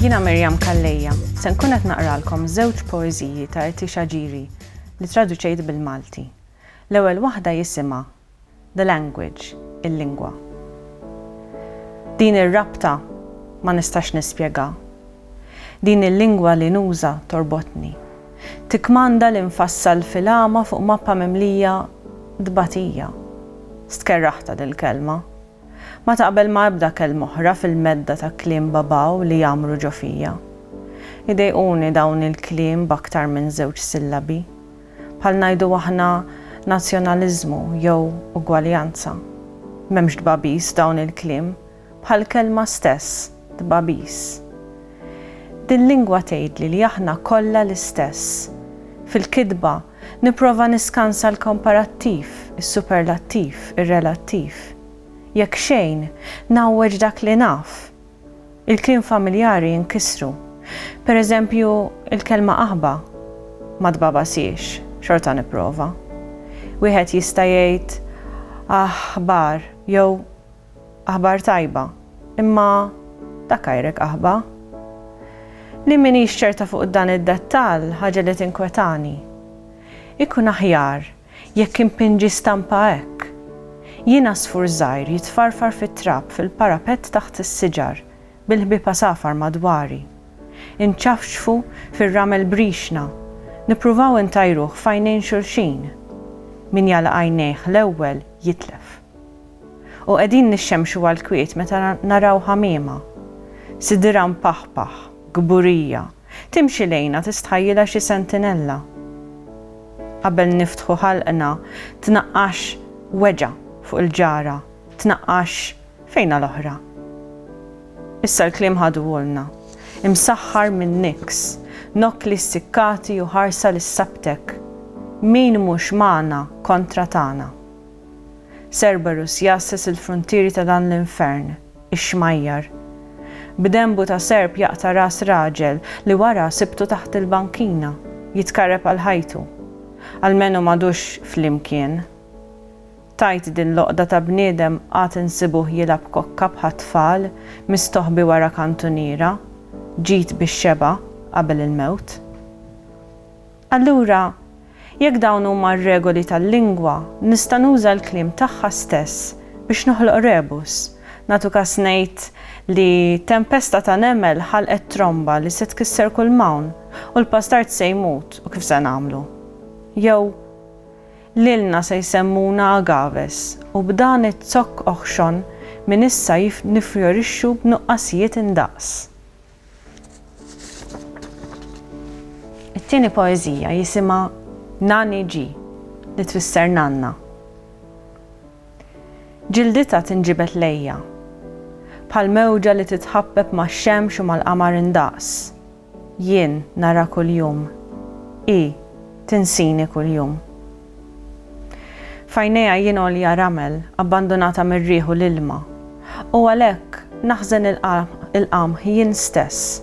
Jiena Miriam Calleja, se nkun qed naqralkom żewġ poeżiji ta' Eti Xaġiri li traduċejt bil-Malti. L-ewwel waħda jisimha The language, il-lingwa. Din ir-rabta ma nistax nispjegha. Din il-lingwa li nuża torbotni. Tikkmanda li nfassal filgħama fuq mappa mimlija tbatija. Stkerraħtha dil-kelma. Ma taqbel ma' ebda kelma oħra fil-medda ta' kliem babaw li jgħammru ġo fija. Idejquni dawn il-kliem b'aktar minn żewġ sillabi. bħal ngħidu aħna nazzjonaliżmu jew ugwaljanza. M'hemmx tbagħbis f'dawn il-kliem, bħall-kelma stess, tbagħbis. Dil-lingwa tgħidli li aħna kollha l-istess. Fil-kitba, nipprova niskansa l-komparattiv, is-superlattiv, ir-relattiv. Jekk xejn, ngħawweġ dak li naf, Il-kliem familjari jinkisru. Per eżempju, il-kelma aħba ma tbagħbasiex, xorta nipprova. Wieħed jista' jgħid aħ-ħbar jew aħbar tajba, imma dak għajrek aħba. Li m'iniex ċerta fuq dan id-dettall, ħaġa li tinkwetani. Ikun aħjar Jekk inpinġi stampa hekk, jien għasfur żgħir jitfarfar fit-trab fil-parapett taħt is-siġar bil-ħbieb għasafar madwari. Inċafċfu fir-ramel b'rixna, nippruvaw intajruh f'għajnejn xulxin. Min jagħlaq għajnejh l-ewwel jitlef. U qegħdin nixxemxu għall-kwiet meta naraw ħamiema. Sidirha mpaħpaħ, kburija. Timxi lejna tistħajjilha xi sentinella. Qabel niftħu ħalqna tnaqqax weġgħa fuq il-ġara, tnaqqax fejna l-oħra. Issa l-kliem ħaduhulna, imsaħħar minn Nix, Nokli Ssikkati u Ħarsa li Ssabtek, Min mhux magħna kontra tagħna. Cerberus jgħasses il-fruntieri ta' dan l-infern. ix-xmajjar. B'denbu ta' serp jaqta' ras raġel li wara sibtu taħt il-bankina, jitkarreb għal ħajtu. Almenu m'għadux flimkien. Tgħid din l-għoqda ta' bniedem għad insibuh jilgħab kokka bħat-tfal, mistoħbi wara kantuniera, ġid bix-xebgħa qabel il-mewt. Allura, jekk dawn huma r-regoli tal-lingwa, nista' nuża l-kliem tagħha stess biex noħloq rebus. Nagħtu kas ngħid li tempesta ta' nemel ħalqet tromba li se tkisser kull m'hawn, u l-pastard se jmut, u kif se nagħmlu? Jew, Lilna se jsemmuna agaves, u b'dan iz-zokk oħxon minn issa nifjorixxu b'nuqqasijiet indaqs. It-tieni poeżija jisimha Nani Ġi, li tfisser nanna. Ġilditha tinġibed lejja, bħal mewġa li titħabbeb max-xemx u mal-qamar indaqs. Jien narha kuljum. Hi tinsini kuljum. F'għajnejha jien għolja ramel, abbandunata mir-riħ u l-ilma. U għalhekk, naħżen il-qamħ jien stess,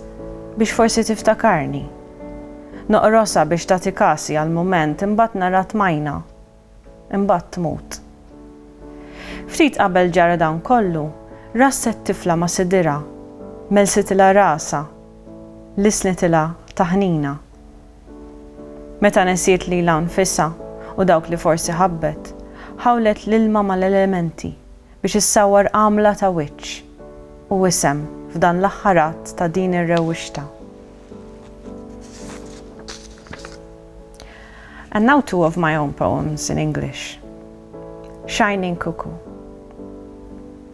biex forsi tiftakarni. Noqrosha biex tagħti kasi għal mument, imbagħad narha tmajna. Imbagħad tmut. Ftit qabel ġara dan kollu, rasset tifla ma' sidirha, mellsitilha rasha, lissnitilha taħnina. Meta nesiet lilha nfisha u dawk li forsi ħabbet, ħawlet l-ilma mal-elementi biex issawwar għamla ta' wiċċ u isem f'dan l-aħħar att ta' din ir-rewwixta. And now two of my own poems in English. Shining Cuckoo.